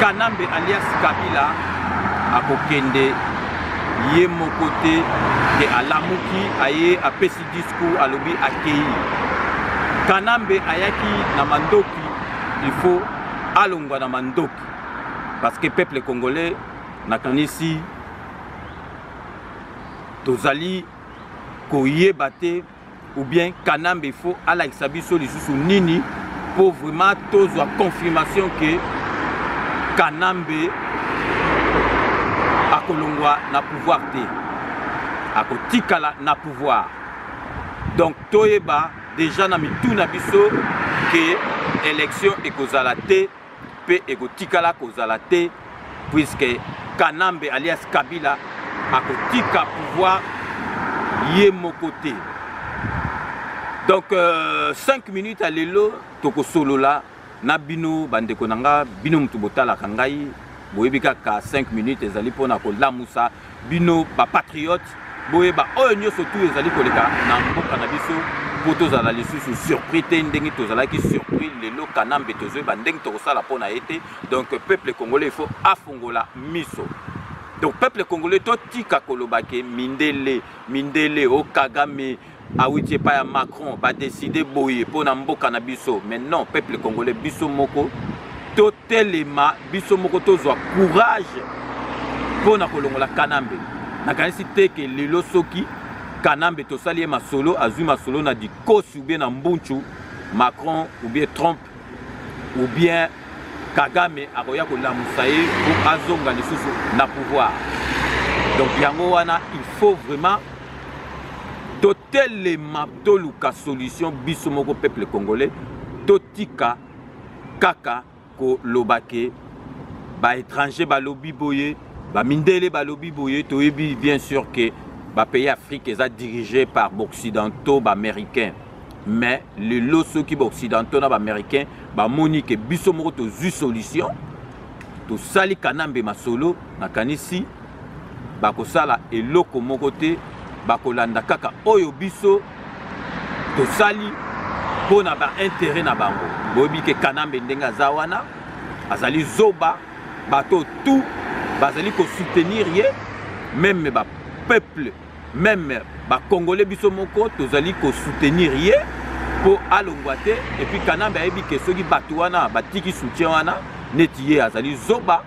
Kanambe alias Kabila akokende ye moko te ke alamuki aye apesi discours alobi akeyi Kanambe ayaki na mandoki il faut alongwa na mandoki parce que peuple congolais nakanisi tozali koyeba te ou bien kanambe faut alakisa biso lisusu nini mpo vraiment tozwa confirmation ke kanambe akolongwa na pouvoir te akotikala na pouvoir donc toyeba deja na mitu na biso ke élection ekozala te mpe ekotikala kozala te puisque kanambe alias kabila akotika pouvoir ye moko te donc 5 euh, minutes ya lelo tokosolola na bino bandeko na nga bino moto botalaka ngai boyebi kaka 5 minutes ezali mpona kolamusa Bino ba patriotes boyeba oyo nyoso tout ezali koleka na mboka na biso mpo tozala lisusu surpris te ndenge tozalaki surpris lelo kanambe tozoyeba ndenge tokosala mpo na ye te donc peuple congolais il faut afongola miso donc peuple congolais totika koloba ke mindele mindele o oh, kagame awiti epai ya macron badeside boye mpo na mboka na biso mais non peuple congolais biso moko totelema biso moko tozwa courage mpo na kolongola kanambe nakanisi te ke lelo soki kanambe tosali ye masolo azwi masolo na dikosi ubie na mbunchu macron ubie trump ou bien kagame akoya kolamusa ye po azonga lisusu na pouvoir donc yango wana il faut vraiment totelema toluka solution biso moko peuple congolais totika kaka koloba ke baétranger balobi boye bamindele balobi boye toyebi bien sûr ke bapays afrique eza dirige par baoccidentaux baaméricains mais lelo soki baoccidentaux na baaméricain bamoni ke biso moko tozwi solution tosali kanambe masolo nakanisi bakosala eloko moko te bakolanda kaka oyo biso tosali mpo na baintere na bango boyebi ke kanambe ndenge aza wana azali zoba bato tout bazali kosoutenir ye meme bapeuple meme ba congolais biso moko tozali ko soutenir ye po alongwa te et puis kanambe ayebi ke soki bato wana batiki soutien wana neti ye azali zoba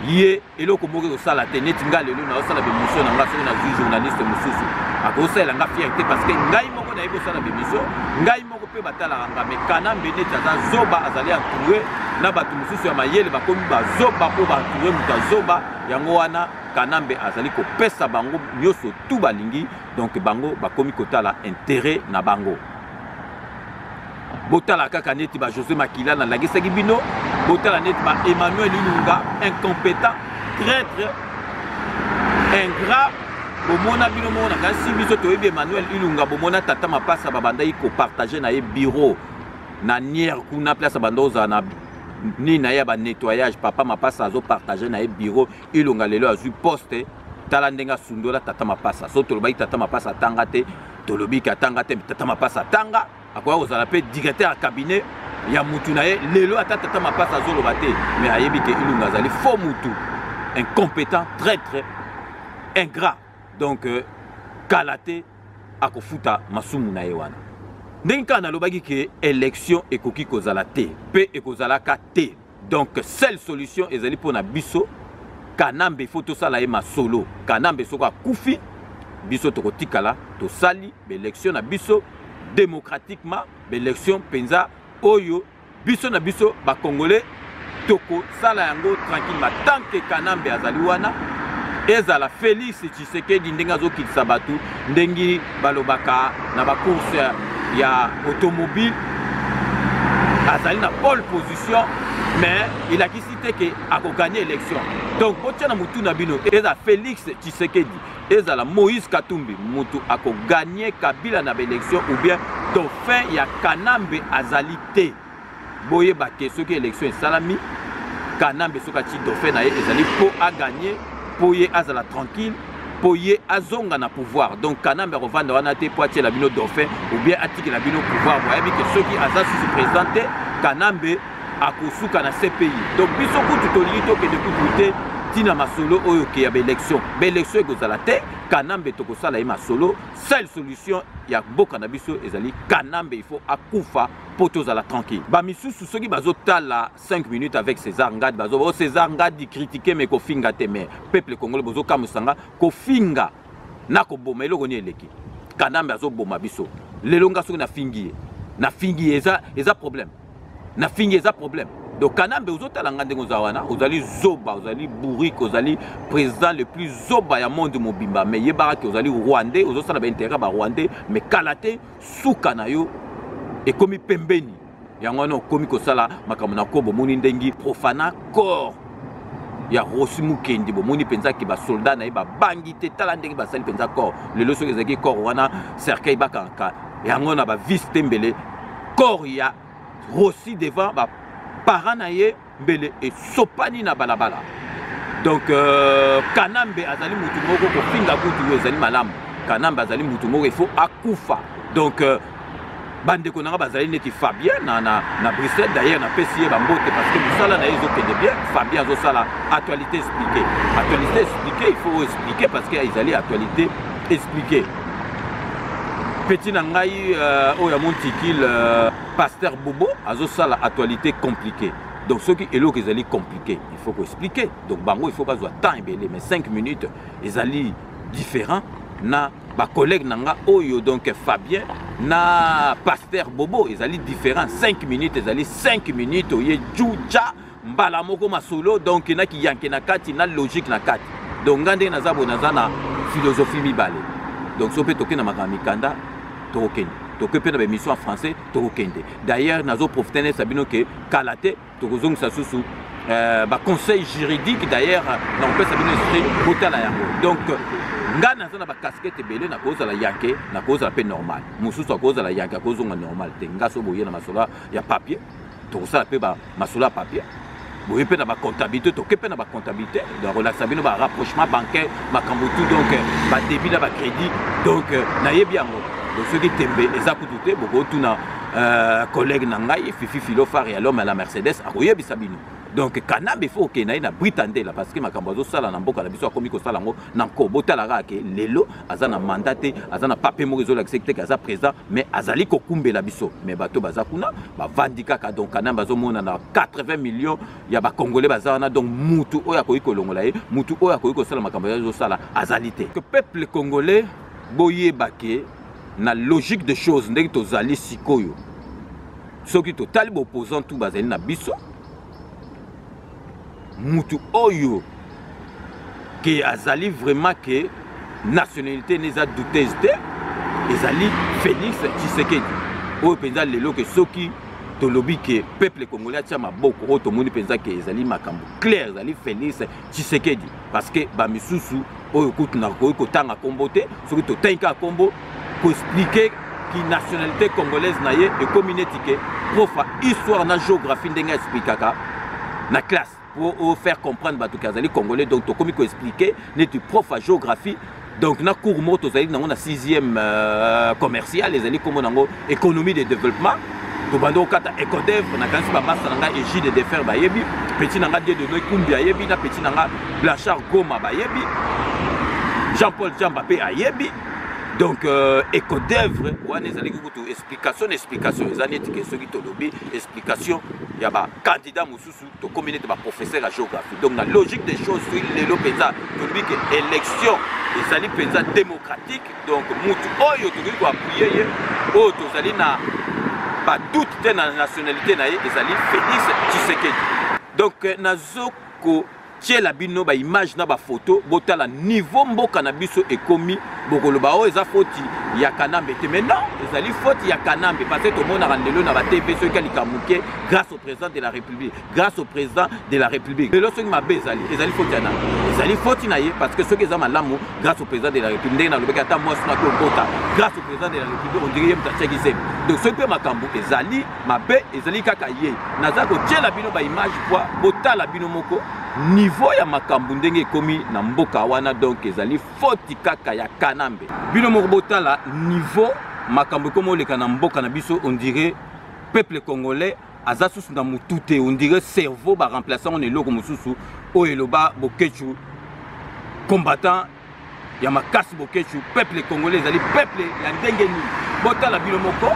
ye eloko moko ekosala te neti ngai lelo naosala bemission na ngai soki nazwi journaliste mosusu akosalela ngai fiere te parce que ngai moko nayebi kosala bemission ngai moko mpe batalaka ngai mais kanambe neti aza zoba azali entoure na bato mosusu ya mayele bakomi bazoba mpo baentoure moto ya zoba yango wana Kanambe azali kopesa bango nyoso tout balingi donc bango bakomi kotala intérêt na bango botala kaka neti ba José Makila na lagisaki bino botala neti ba Emmanuel Ilunga incompétent traître ingrat bomona bino moko na kasi biso toyebi Emmanuel Ilunga bomona tata mapasa babandaki kopartage na ye bureau na niere kuna place abanda ozala na nini na ye ya banettoyage papa mapasa azopartage na ye bureau Ilunga lelo azwi poste tala ndenge asundola tata mapasa so tolobaki tata mapasa atanga te tolobi ke atanga te tata mapasa atanga akoya kozala mpe directeur ya cabinet ya mutu na ye lelo ata tata mapasa azoloba te mais ayebi ke ilunga azali faux mutu incompétent traitre ingrat donc euh, kala te akofuta masumu na ye wana ndenge kaka nalobaki ke election ekoki kozala te mpe ekozalaka te donc seule solution ezali mpo na biso kanambe faut tosala ye masolo kanambe soko akufi biso tokotikala tosali baelection na biso démocratiquement baelection mpenza oyo biso na biso bacongolais tokosala yango tranquillement tant que kanambe azali wana ezala félix Tshisekedi ndenge azokitisa bato ndenge balobaka na bacourse ya automobile azali na pole position mais elakisi te ke akoganye élection donc botya na motu na bino eza félix tshisekedi ezala moïse katumbi motu akoganye kabila na baélection ou bien dauphin ya kanambe azali te boyeba te soki élection esalami kanambe soki atie dauphin na ye ezali mpo aganye mpo ye azala tranquille mpo ye azonga na pouvoir donc kanambe akovanda wana te mpo atiela bino dauphin ou bien atikela bino pouvoir boyebi ke soki aza susu président te kanambe akosuka na cpi donc biso kutu tolingi tokende kutu te ntina masolo oyo ke ya baélection baélection ekozala te kanambe tokosala ye masolo seule solution ya mboka na biso ezali kanambe il faut akufa mpo tozala tranquille bamisusu soki bazotala 5 minutes avec césar ngadi bazoba o oh, césar ngadi kritike me kofinga te mais peuple congolais bozokamwisa nga kofinga na koboma eloko nini eleki kanambe azoboma biso lelo nga soki nafingi ye nafingi ye eza, eza problème nafingi eza problème donc kanambe ozotala nga ndenge oza wana ozali zoba ozali bourrique ozali président le plus zoba ya monde mobimba mais yebaka ke ozali rwandais ozosala baintérêt ya barwandais mais kala te suka na yo ekomi pembeni yango wana okomi kosala makambo na ko bomoni ndengi profana corps ya rosi mukendi bomoni mpenza ke basoldat na ye babangi te tala ndenge basali mpenza corps lelo soki ezalaki corps wana cercueil bakangaka yango na bavise te mbele corps ya rosi devant baparent na ye mbele esopani na balabala donc euh, kanambe azali motu moko kofinga kutu oyo ezali malamu kanambe azali motu moko il faut akufa donc euh, bandeko na ngai bazali neti fabien na, na, na bruxelles d'ailleurs napesi ye bambote parce que mosala na ye ezokende bien fabien azosala actualité expliqué actualité expliqué il faut expliquer parce que ezali actualité expliqué petit na ngai euh, oyo ya montikile euh, Pasteur Bobo azo sala actualité compliquée. Donc soki eloko ezali compliqué, il faut ko expliquer. Donc bango il faut bazwa temps ebele mais 5 minutes ezali différent na ba collègue na nga oyo donc Fabien na Pasteur Bobo ezali différent 5 minutes ezali 5 minutes oye Juja mbala moko masolo donc na kiyanke na kati na logique na kati donc nga ndenge naza boye naza na philosophie mibale donc so mpe tokenda makambo mikanda tokokende tokoki mpe na baémission ya français tokokende d'ailleurs nazoprofite nayebisa bino ke kala te tokozongisa susu euh, baconseil juridique d'ailleurs nakopesa bino esprit botala yango donc ngai naza na bakaskete ebele nakozala yanke nakozala mpe normal mosusu akozala yanke akozonga normal te ngai so boye na masolo ya papier tokosala mpe masolo ya papier boye mpe na bacomptabilité toke mpe na bacomptabilité donc olakisa bino barapprochement bancaire makambo tout donc badébit na bacrédit donc nayebi yango donc soki tembe eza kutu te bokotuna euh, collègue na ngai fifi filofar ya lome ya la mercedes akoyebisa bino donc kanambe fo okenda ye na brita ndela parce que makambo azosala na mboka na biso akomi kosala yango na nko botala kaka ke lelo aza na manda te aza na pape moko ezolakisa te ke aza président mais azali kokumbela biso mais bato baza kuna bavandi kaka donc kanambe azomona na 80 millions ya bacongolais baza wana donc mutu oyo akoki kolongola ye mutu oyo akoki kosala makambo azosala azali te que peuple congolais boyeba ke na logique de choses ndenge tozali sikoyo soki totali baopposant tu bazali na biso mutu oyo ke azali vraiment ke nationalité ne eza douteuse te ezali félix tshisekedi oyo mpenza lelo ke soki tolobi ke peuple congolais atya maboko oyo tomoni mpenza ke ezali makambo claire ezali félix tshisekedi parce que bamisusu oyo kutu nakoki kotanga kombo te soki totangi kaka kombo koexplike kinationalité congolaise na ye ekomi neti ke profa histoire na géographie ndenge aexplikaka na classe pour faire comprendre bato ke azali congolais donc tokomi koexplike neti profa géographie donc na cours moko tozali nango na sixième euh, commercial ezali nkombo nango économie de développement tobandi kokata ecodevre nakanisi bamasta na ngai egide defer bayebi petit na ngai die de noi kumbi ayebi na petit na ngai blanchard goma bayebi jean paul jamba mpe ayebi donc euh, ecodevre wana ezalaki kutu explication na explication eza neti ke soki tolobi explication ya bakandidat mosusu tokomi nete baprofesseur ya géographie donc na logique des choses soki lelo mpenza tolobi ke élection ezali mpenza démocratique donc mutu oyo tokoki koapuye ye oyo tozali na badoute te na nationalité na ye ezali félix tshisekedi donc euh, nazo ko tiela bino ba image na ba photo botala niveau mboka na biso ekomi bokoloba oyo oh, eza foti ya kanambe te mais non ezali foti ya kanambe parce que tomonaka ndelo na ba tv soki alika moke grâce au président de la république grâce au président de la république lelo soki mabe ezali ezali foti ya nani ezali foti na ye parce que soki eza malamu grâce au président de la république ndenge nalobaki ata mwasi na kokota grâce au président de la république ondiri ye moto atiaki zemi donc soki mpe makambo ezali mabe ezali kaka ye naza kotyela bino baimage poi botala bino moko niveau ya makambo ndenge ekomi na mboka wana donk ezali foti kaka ya kanambe bino moko botala niveau makambo ekomi oleka na mboka na biso ondire peuple congolais aza susu na motu te ondire cerveau baremplace yango na eloko mosusu oyo eloba bokechu combattant ya makasi bokechu peuple congolais ezali peuple ya ndenge nini botala bino moko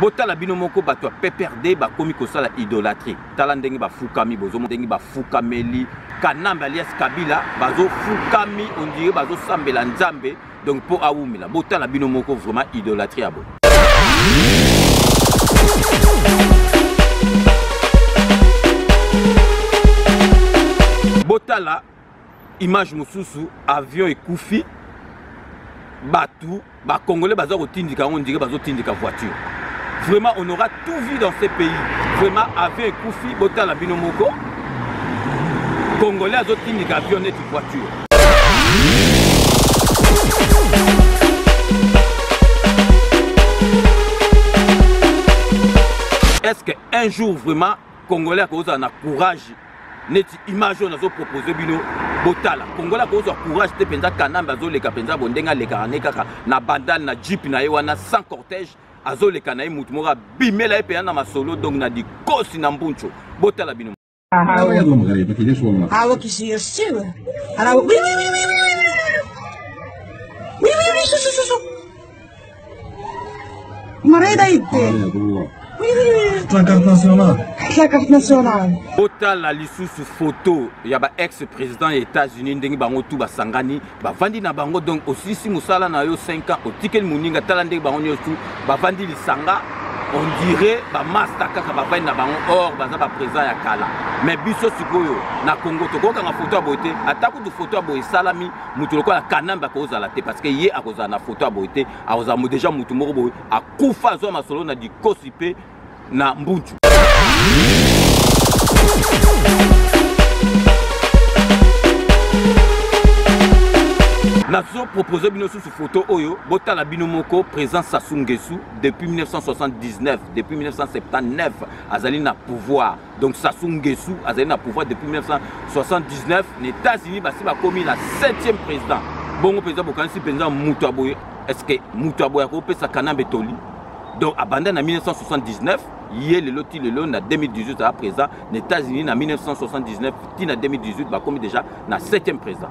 botala bino moko bato ya pprd bakomi kosala idolatrie tala ndenge bafukami bozoma ndenge bafukameli kanambe alias kabila bazofukami ondire bazosambela nzambe donc mpo awumela botala bino moko vraiment idolatrie ya boye botala image mosusu avion ekufi bato bacongolais baza kotindika yango ndike bazotindika voiture vraiment on aura tout vu dans ce pays vraiment avion ekufi botala bino moko congolais azotindika avion neti voiture est ce que un jour vraiment congolais akozala na courage neti image oyo nazo propose bino botala kongola akozwa courage te mpenza kanambe azoleka mpenza bondenge alekaka ne kaka na bandale na jeep na ye wana sans cortège azoleka na ye motu moko abimela ye mpenza na masolo donc na dikosi na mbuncho botala bino Mareda ite. Tla carte nationale. Tla carte nationale. Botala lisusu photo ya ba ex président ya États-Unis ndenge bango tout basangani bavandi na bango donc osilisi mosala na yo 5 ans otikeli moninga tala ndenge bango nyonso tout bavandi lisanga on dirait bamasta kaka bavandi na bango or baza baprésent ya kala mais biso sikoyo na congo tokokanga foto ya boye te ata kutu foto ya boye esalami moto lokola kanambe akozala te parce que ye akozala na foto ya boye te akozala deja moto moko boye akufa azwa masolo na dikosi mpe na mbuncu nazo propose bino susu foto oyo botala bino moko président sassou ngesu depuis 1979 depuis 1979 azali na pouvoir donc Sassou Nguessou azali na pouvoir depuis 1979 na États-Unis basi bakomi na 7e président bongo mpenza bokanisi mpenza moto ya boye estce moto ya boye akopesa kanambe toli donc abanda na 1979 ye lelo ti lelo na 2018 aza président na États-Unis na 1979 ti na 2018 bakomi déjà na 7e président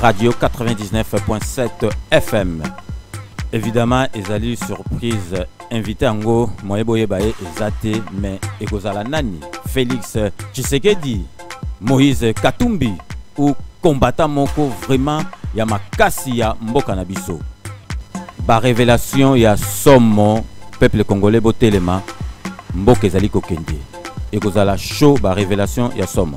Radio 99.7 FM. Évidemment, ezali surprise invité yango moye boyeba ye eza te mais ekozala nani Félix Tshisekedi, Moïse Katumbi ou combattant moko vraiment ya makasi ya mboka na biso. Ba révélation ya somo peuple congolais botelema mboka ezali kokende ekozala show ba révélation ya somo.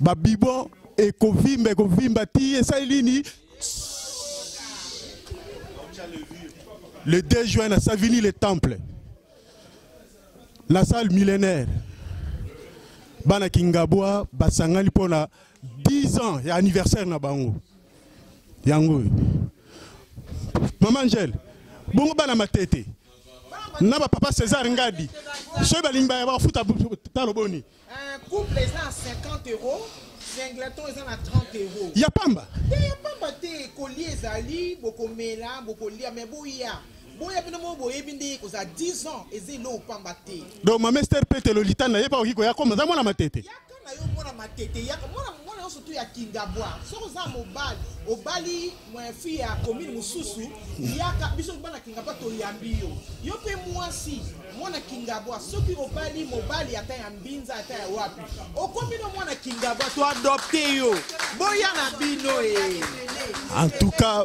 babibo ekovimba ekovimba ti esali nini le 2 juin na savini le temple la salle millénaire bana kingabwa basangani mpo na 10 ans ya anniversaire na bango yango oyo mama angele bongo bana matete na bapapa césar ngadi soki balingi baya bafuta talo boni Un couple eza na 50 euros, singleton eza na 30 euros. Ya pamba. Te ya pamba te koli ezali bokomela bokolia mais boya boya bino moko boyebi nde ekozala 10 ans eza eloko pamba te. Donc mama Esther Pete Lolita na ye pa oki koya koma za mwana matete. Yaka na yo mwana matete yaka mwana mwana nyonso tu ya kingabwa soki oza mobali obali fille ya commune mosusu yaka biso bana kingabwa toyambi yo yo mpe mwasi mwana kingabwa soki obali mobali ata ya mbinza ata ya wapi okomi no mwana kingabwa toadopte yo boya na bino e en tout cas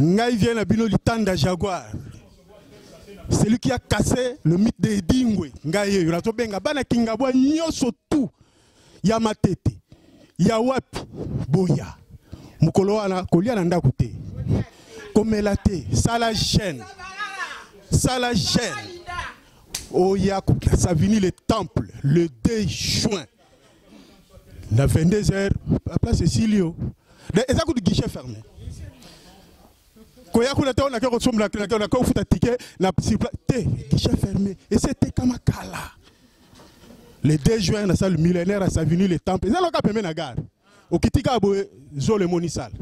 Ngai viens na bino litanda jaguar. Celui qui a cassé le mythe de Edingwe, ngai yeyo nazo benga bana kingabwa nyoso tout ya matete ya wapi boya mokolo wana kolia na ndako te komela te sala chaîne sala chaîne oya oh, savini le temple le 2 juin na 22 heures la place esili yo eza kutu guichet fermé koya kuna te oyo nake kosombela nake nake kofuta tike na sipla te guichet fermé esi etekama kala le 2 juin na salle millénaire asavini le temple eza loka pembe na gare okiti kaka boye zolo emoni sale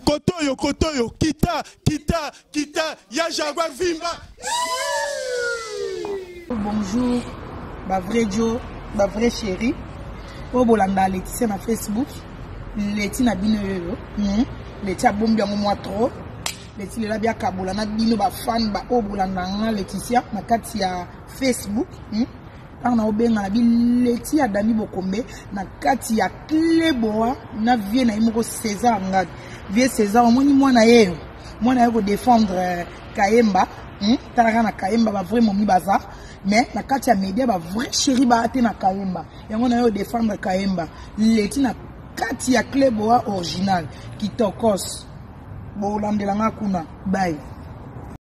Kotoyo, Kotoyo, Kita, Kita, Kita, ya Jaguar Vimba. Bonjour, ba vrai Joe, ba vrai chérie. Oyo bolanda Laetitia na Facebook. Leti na bino yoyo. Hmm. Leti abombi yango mwa trop. Leti lela bia kabola na bino ba fan ba oyo bolanda nga Laetitia na kati ya Facebook. Hmm. ntango na obenga na bileti ya dami bokombe na kati ya kleboa na vie na ye moko césar ngadi vie césar omoni mwana yeyo mwana ye kodefendre euh, kayemba hmm? talaka na kayemba bavrai momi baza mais na kati ya media bavrai chéri baa te na kayemba yango na ye odefendre kayemba leti na kati ya kleboa original kitokos bolandela nga kuna bai